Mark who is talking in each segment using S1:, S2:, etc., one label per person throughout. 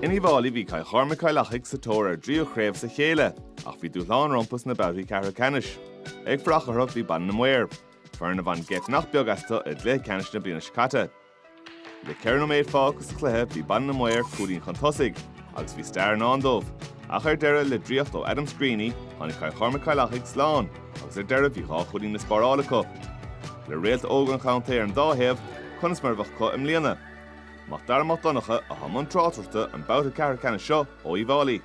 S1: In Uíbh Fháilí bhí Cill Chormaic-Cill Achaidh sa tóir ar dtríú chraobh as a chéile ach bhí dúshlán rompu sna babhtaí ceathrú ceannais. Ag fanacht orthu bhí Baile na Maor, foireann a bhain geit nach beag astu i gcluiche ceannais na bliana seo caite. Le ceithre nóiméad fágtha sa chluiche bhí Baile na Maor cúilín chun tosaigh agus bhí stair i ndán dóibh, ach ar deireadh, le draíocht ó Adam Screeney, tháinig Cill Chormaic-Cill Achaidh slán agus ar deireadh bhí dhá chúilín le spáráil acu. Le réalta óg an chontae ar an dá thaobh, conas mar a bheadh acu i mbliana? Mac Dara Mac Donncha atá i mbun tráchtaireachta an babhta ceathrú ceannais seo ó Uíbh Fháilí.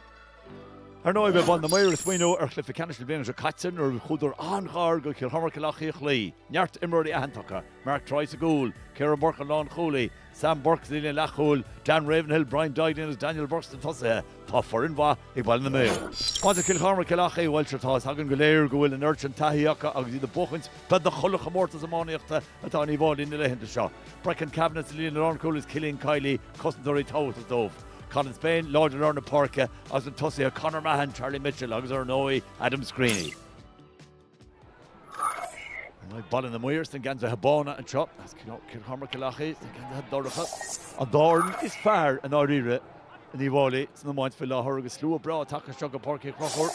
S2: Ar ndóigh, bheadh Baile na Maor ag smaoineamh ar chluiche ceannais na bliana seo caite nuair a chuadar an-ghar go Cill Chormaic-Cill Achaidh a chloí. Neart imreoirí aitheanta acu, Mark Troy sa gcúl, Ciaran Burke an lánchúlaí, Sam Bourke sa líne leathchúil, Dan Ravenhill, Brian Duignan agus Daniel Bourke sna tosaithe, tá foireann mhaith ag Baile na Maor. Maidir le Cill Chormaic-Cill Achaidh, bhuel, sure, tá's againn go léir go bhfuil an oiread sin taithí acu agus iad ag buachaint beagnach chuile chomórtas iománaíochta atá in Uíbh Fháilí na laethanta seo. Brecon Kavanagh sa líne lánchúil is Cillian Kiely cosantóirí tábhachtach dóibh. Colin Spain láidir i lár na páirce agus sna tosaithe, Conor Mahon, Charlie Mitchell agus ar ndóigh Adam Screeney. Baile na Maor sna geansaithe bána anseo is Cill Chormaic-Cill Achaidh sna geansaithe dorcha. An dá fhoireann is fearr i ndáiríre in Uíbh Fháilí san iomáint faoi láthair agus slua breá tagtha anseo go Páirc Uí Chonchúir,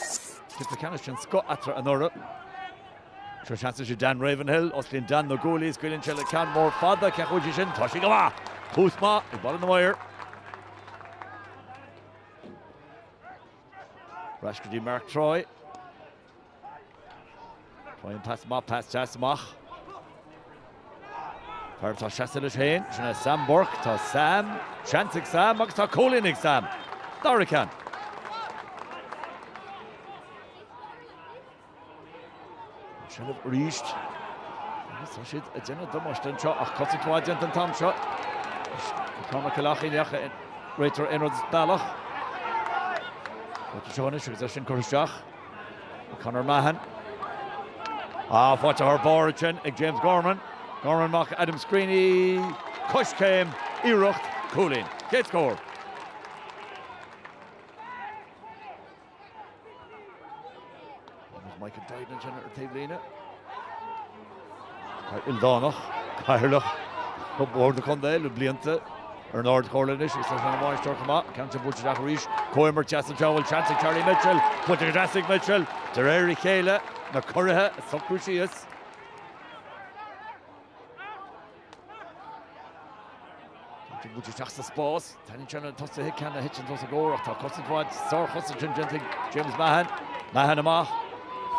S2: cluiche ceannais den scoth eatarthu anuraidh. Seo seans leis an Dan Ravenhill, osclaíonn Dan na guaillí, is scaoileann sé le ceann mór fada, cé chomh fhiú sin, tá sí go maith! Tús maith ag Baile na Maor. Ar ais go dtí Mark Troy. Troy an pas amach, pas deas amach. Fear atá ina sheasamh leis féin, sin é Sam Bourke, tá Sam, seans ag Sam agus tá cúilín ag Sam. Dara ceann. Seilbh arís. Agus tá siad ag déanamh damáiste anseo ach cosaint mhaith déanta an t-am seo. Tá na Cill Achaidheach ag réiteoir aon rud as bealach. Fáilte seo anois agus é sin curtha isteach ag Conor Mahon. Ah, faighte thar barr ansin ag James Gorman. Gorman amach Adam Screeney. Coiscéim, iarracht cúilín. Chéad scór. Agus Michael Duignan ansin ar an taobhlíne. Ildánach, Cathaoirleach ar Bhord an Chontae le blianta ar an Ard Chomhairle anois agus tá sé ina bhainisteoir chomh maith. Ceann sin buailte isteach arís. Comhimirt deas anseo a bhfuil seans ag Charlie Mitchell. Buailte go deas ag Mitchell de réir a chéile, na curaidh ag socrú síos. Tiocfaidh muid isteach sa spás, taitníonn sé lena tosaithe ceann a thiteann os a gcomhair ach tá cosaint mhaith, sárchosaint déanta ag James Mahon. Mahon amach,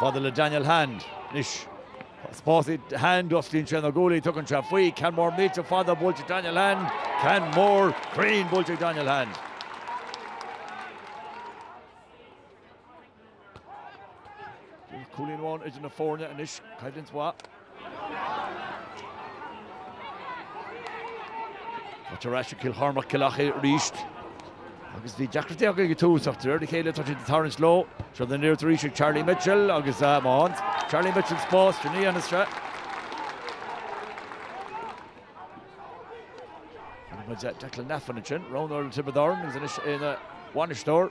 S2: fada le Daniel Hand. Anois tá spás ag Hand, osclaíonn sé na guaillí, tugann sé faoi, ceann mór millte fada buailte ag Daniel Hand, ceann mór cruinn buailte ag Daniel Hand. Bíonn cúilín amháin idir na foirne anois, coimhlint mhaith. Buaite ar ais ag Cill Chormaic Cill Achaidh arís agus bhí deacrachtaí acu ag tús ach de réir a chéile tá siad ag tarraingt leo. Seo na n-aonaid arís ag Charlie Mitchell agus Mahon. Charlie Mitchell spás sin a dhéanfas sé. Feiceann muid Declan Laffan ansin, Ronan ó Thiobraid Árann agus anois é ina bhainisteoir.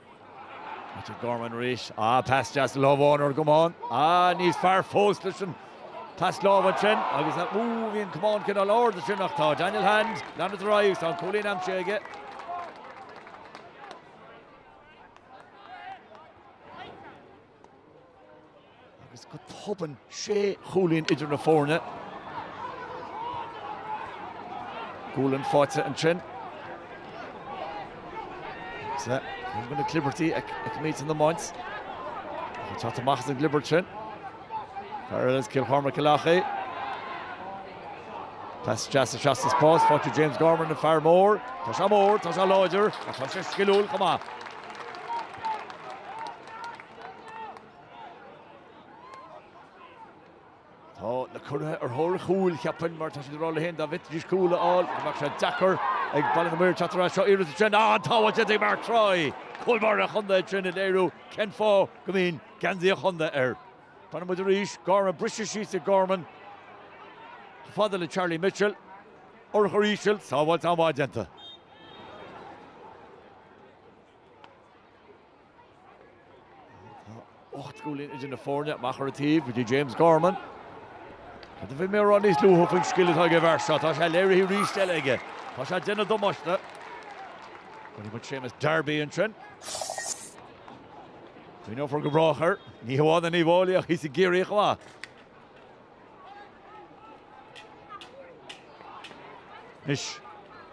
S2: Patrick Gorman arís, ah pas deas lámh amháin ar an gcamán, ah níos fearr fós leis an pas lámh ansin agus an, úúú bhí an camán cineál ard ansin ach tá Daniel Hand, leanann ar aghaidh, tá an cúilín aimsithe aige. agus go tobann sé chúilín idir na foirne. Gualainn faighte ansin. Seo ceann de na clibirtí a fheicimid san iomáint. Ag teacht amach as an gclibirt sin. Fear eile as Cill Chormaic Cill Achaidh. Pas deas sa spás, faighte ag James Gorman an fear mór. Tá sé mór, tá sé láidir, ach tá sé sciliúil chomh maith. Tá na curaidh ar thóir cúil, cheapfainn, mar tá siad ag rá leo féin dá bhféadfaidís cúl a fháil, go mbeadh sé deacair ag Baile na Maoir teacht ar ais seo iarracht ansin. Ah, an tsábháil déanta ag Mark Troy! Cúl báire an chontae ansin ag léiriú cén fáth go mbíonn geansaí an chontae air. Fanann muid arís, Gorman, briseadh síos ag Gorman, chomh fada le Charlie Mitchell, urchar íseal, sábháil an-mhaith déanta. Ocht gcúilín idir na foirne, amach ar an taobh go dtí James Gorman. Cad a bhí mé a rá níos luaithe faoin scil atá ag an bhfear seo? Tá sé léirithe arís eile aige. Tá sé ag déanamh damáiste. Feiceann muid Séamus Darby ansin. Cuimhneofar go brách air. Ní hamháin in Uíbh Fhailí ach thíos i gCiarraí chomh maith. Anois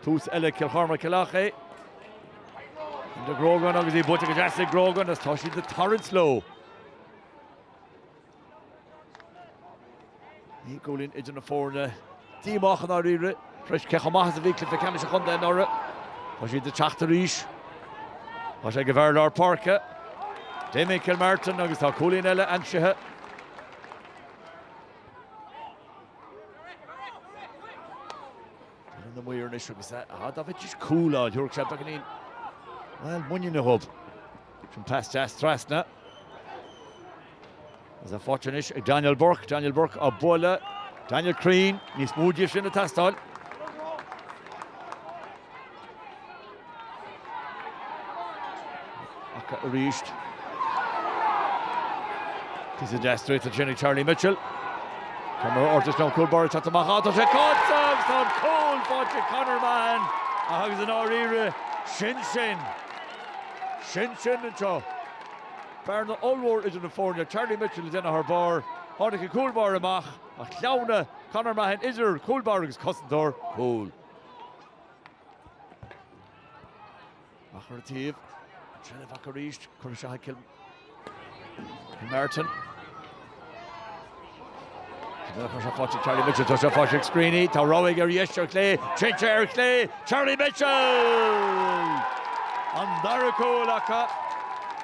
S2: tús eile Cill Chormaic Cill Achaidh. De Grogan agus í buailte go deas ag Grogan is tá siad ag tarraingt leo. Naoi gcúilín idir na foirne díomách i ndáiríre freisin cé chomh maith is a bhí cluiche ceannais an chontae anuraidh. Tá siad ag teacht arís. Tá sé ag an bhfear lár páirce. Damien Kilmartin agus tá cúilín eile aimsithe. Rinne na muir anois agus a had a bheith is cúla an thiúrfadh sé beagáinín. Well, muiníne dóibh. Sin pas deas trasna. Tá sé faighte anois ag Daniel Bourke. Daniel Bourke á bualadh. Daniel cruinn, níos mó díobh sin ag teastáil. Acu arís. Píosa deas draíochta ansin ag Charlie Mitchell. Tá mar ortach an cúl báire ag teacht amach ann. Tá sé caite agus tá an cúl faighte ag Conor Mahon ach agus i ndáiríre sin sin. Sin sin anseo. Bearna ollmhór idir na foirne. Charlie Mitchell ag déanamh thar barr. Tháinig an cúl báire amach ach shleamhnaigh Conor Mahon idir cúl báire agus cosantóir cúl. Amach ar an taobh, an tseilbh acu arís, curtha isteach ag Kilmartin. Tá sé faighte ag Charlie Mitchell, tá sé faighte ag Screeney, tá rogha ar dheis ar chlé, téann sé ar chlé, Charlie Mitchell! An dara cúl acu,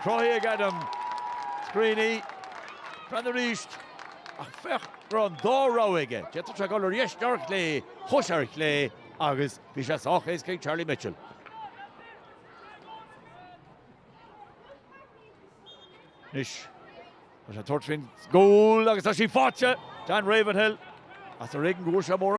S2: cruthaithe ag Adam Screeney, breathnaigh arís, ach féach go raibh an dá rogha aige, d'fhéadfadh sé dul ar dheis nó ar chlé. Chuaidh sé ar chlé agus bhí sé sách éasca ag Charlie Mitchell. Anois tá sé ag tabhairt faoin gcúl agus tá sí faighte! Dan Ravenhill as a réigiún go bhfuair sé móramh.